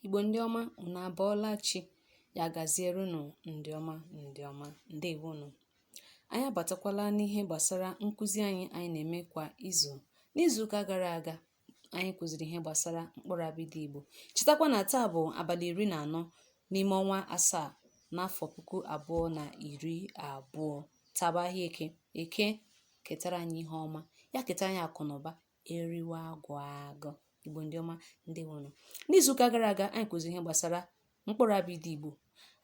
Igbo ndị ọma unu abọọla chi ya gaziere unu ndị ọma ndị ọma ndewo unu anyị abatakwala n'ihe gbasara nkụzi anyị anyị na-eme kwa izu n'izuụka gara aga anyị kụziri ihe gbasara mkpụrụ abịdị Igbo chetakwa na taa bụ abalị iri na anọ n'ime ọnwa asaa n'afọ puku abụọ na iri abụọ taa bụ ahịa eke eke ketara anyị ihe ọma ya ketara anyị akụ na ụba eriwe agwụ agwụ igbo ndị ọma ndewonu n'izuụka gara aga anyị kụziri ihe gbasara mkpụrụ abịdị igbo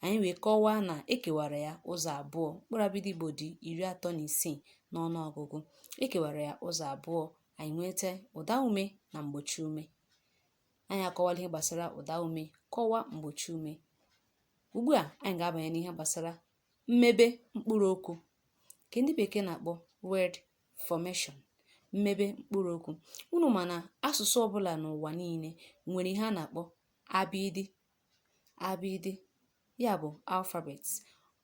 anyị wee kọwaa na ekewara ya ụzọ abụọ mkpụrụ abịdị igbo dị iri atọ na isii n'ọnụ ọgụgụ ekewara ya ụzọ abụọ anyị nweta ụda ume na mgbochi ume anyị akọwala ihe gbasara ụda ume kọwaa mgbochi ume ugbu a anyị ga-abanye n'ihe gbasara mmebe mkpụrụ okwu nke ndị bekee na-akpọ word formation mmebe mkpụrụ okwu unu ma na asụsụ ọbụla n'ụwa niile nwere ihe a na-akpọ abịịdị abịịdị ya bụ alphabet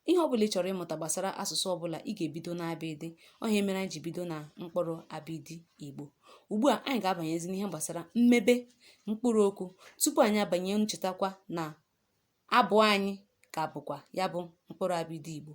ihe ọbụla ị chọrọ ịmụta gbasara asụsụ ọbụla ị ga-ebido n'abịịdị ọ ihe mere anyị ji bido na mkpụrụ abịịdị igbo ugbu a anyị ga-abanyezi n'ihe gbasara mmebe mkpụrụ okwu tupu anyị abanye unu chetakwa na abụ anyị ka bụkwa ya bụ mkpụrụ abịịdị igbo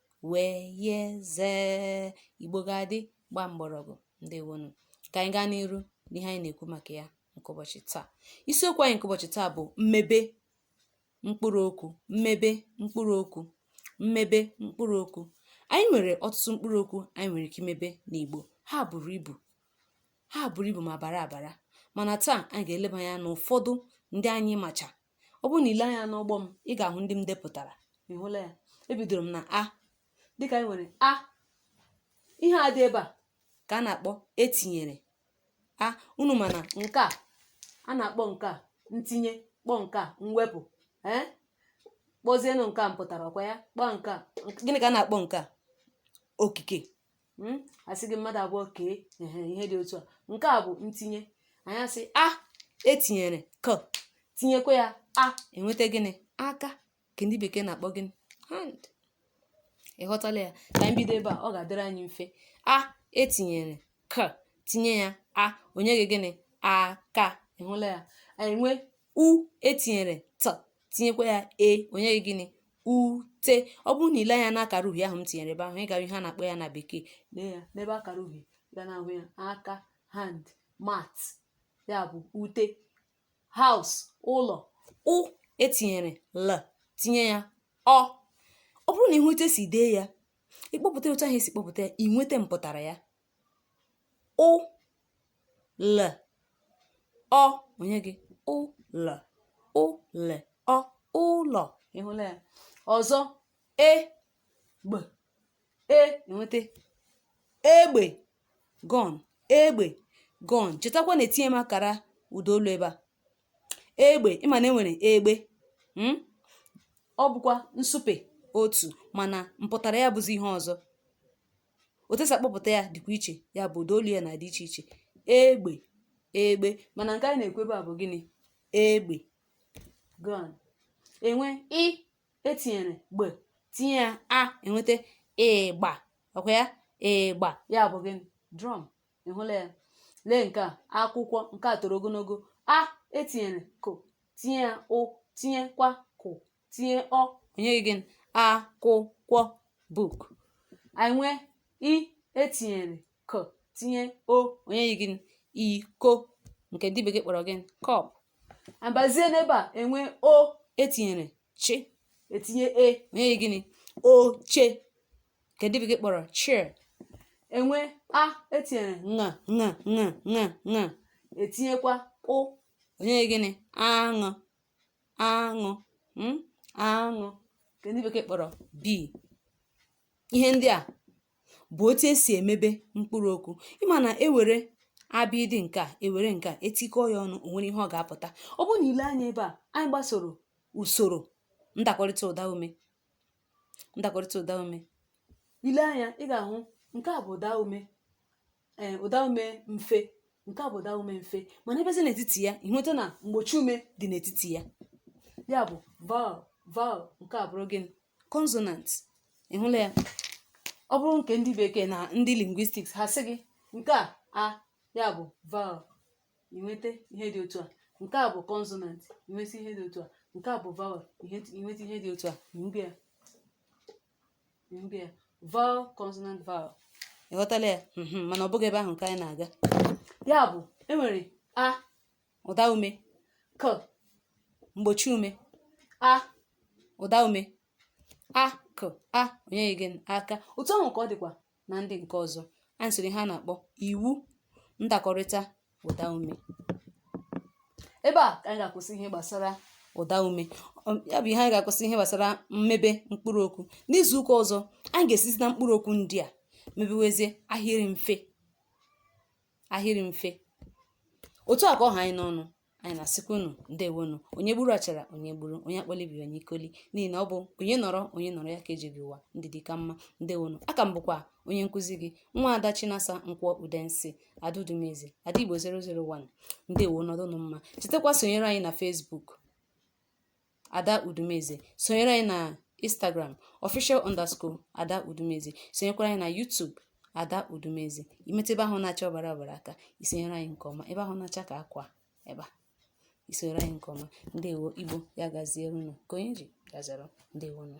w y z igbo ga-adị gbaa mgbọrọgwụ ndewonu ka anyị gaa n'iru n'ihe anyị na-ekwu maka ya nke ụbọchị taa isiokwu anyị nke ụbọchị taa bụ mmebe mkpụrụ okwu mmebe mkpụrụ okwu mmebe mkpụrụ okwu anyị nwere ọtụtụ mkpụrụ okwu anyị nwere ike imebe n'igbo ha buru ibu ha buru ibu ma bara abara mana taa anyị ga-eleba anya n'ụfọdụ ndị anyị macha ọ bụrụ na i lee anya n'ụgbọ m ị ga-ahụ ndị m depụtara ị hụla ya ebidoro m na a dịka anyị nwere a ihe a dị ebe a ka a na-akpọ etinyere a unu ma na nke a a na-akpọ nke a ntinye kpọọ nke a mwepụ ee kpọzienụ nke a mpụtara ọkwa ya kpọọ nke a gịnị ka a na-akpọ nke a okike hmm? a sị gị mmadụ abụọ kee ihe dị otu a nke a bụ ntinye anyị asị a etinyere k tinyekwa ya a e nweta gịnị aka nke ndị bekee na-akpọ gịnị hand ị ghọtala ya ka anyị bido ebe a ọ ga-adịrị anyị mfe a etinyere k tinye ya a o nye gị gịnị aka ị hụla ya anyị nwee u etinyere t tinyekwa ya e o nye gị gịnị ute ọ bụrụ na i lee anya na akara uhie ahụ m tinyere ebe ahụ ị ga-ahụ ihe a na-akpọ ya na bekee lee ya n'ebe akara uhie ị ga na-ahụ ya aka hand mat ya bụ ute house ụlọ ụ etinyere l tinye ya ọ ọ bụrụ na i were etu e si dee ya ị kpọpụta otu ahụ e si kpọpụta ya ị nweta mpụtara ya ụ le ọ o nye gị ụ le ụ le ọ ụlọ ị hụla ya ọzọ e gbe e e nweta egbe gun egbe gun chetakwa na etinye m akara ụda olu ebe a egbe ị ma na e nwere egbe mm? ọ bụkwa nsupe otu mana mpụtara ya bụzi ihe ọzọ otu e si akpọpụta ya dịkwa iche ya bụ ụda olu ya na-adị iche iche egbe egbe mana nke anyị na-ekwu ebe a bụ gịnị egbe gun e nwee ị e tinyere gbe tinye ya a e nweta ịgba ọ kwa ya ịgba ya bụ gịnị drum ị hụla ya lee nke a akwụkwọ nke a toro ogologo a e tinyere kw tinye ya ụ tinyekwa kw tinye ọ o nye anyị gịnị akwụkwọ book anyị nwee i e tinyere k tinye o o nye anyị gịnị iko nke ndị bekee kpọrọ gịnị cup a bịazie n'ebe a e nwee o e tinyere chi e tinye e o nye anyị gịnị oche nke ndị bekee kpọrọ chair e nwee a e tinyere ṅa ṅa ṅa ṅa ṅa e tinyekwa ụ o nye anyị gịnị aṅụ aṅụ mm, aṅụ nke ndị bekee kpọrọ bee ihe ndị a bụ otu e si emebe mkpụrụ okwu ị ma na e were abịdịị nke a e were nke a e tikọọ ya ọnụ o nwere ihe ọ ga-apụta ọ bụrụ na i lee anya ebe a anyị gbasoro usoro ndakọrịta ụda ume ndakọrịta ụda ume i lee anya ị ga-ahụ nke a bụ ụda ume ee ụda ume mfe nke a bụ ụda ume mfe mana ị bịazie n'etiti ya ị nweta na mgbochi ume dị n'etiti ya ya bụ vowel vowel nke a bụrụ gịnị consonant ị hụla ya ọ bụrụ nke ndị bekee na ndị linguistics ha sị gị nke a a ya bụ vowel ị nweta ihe dị otu a nke a bụ consonant ị nweta ihe dị otu a nke a bụ vowel ị nweta ihe dị otu a na ya vowel consonant vowel ị ghọtala ya mhm, mana ọ bụghị ebe ahụ ka anyị na-aga ya bụ e nwere a ụda ume k mgbochi ume a ụda ume a k a o nye gị aka otu ahụ ka ọ dịkwa na ndị nke ọzọ anyị sịrị ihe a na-akpọ iwu ndakọrịta ụda ume ebe a ka anyị ga-akwụsị ihe gbasara ụda ume um, ya bụ ihe anyị ga-akwụsị ihe gbasara mmebe mkpụrụ okwu n'izu ụka ọzọ anyị ga-esizi na mkpụrụ okwu ndị a mebewezie ahịrị mfe ahịrị mfe otu a ka ọ ha anyị n'ọnụ anyị na-asịkwa unu ndewonu onye gburu achara onye gburu onye akpọla ibe ya onye ikoli n'ihi na ọ bụ onye nọrọ onye nọrọ ya ka e ji ebi ụwa ndị dị ka mma ndewonu aka m bụkwa onye nkụzi gị nwa ada chinasa nkwọ udensi ada udumeze ada igbo 001 ndewo nọdụnụ mma chetakwa sonyere anyị na facebook ada udumeze sonyere anyị na instagram official underscore ada udumeze sonyekwara anyị na youtube ada udumeze ị metụ ebe ahụ na-acha ọbara ọbara aka i sonyere anyị nke ọma ebe ahụ na-acha ka akwa ebe a i sonyere anyị nke ọma ndewo igbo ya gaziere unu ka onye ji gaziere ndewonu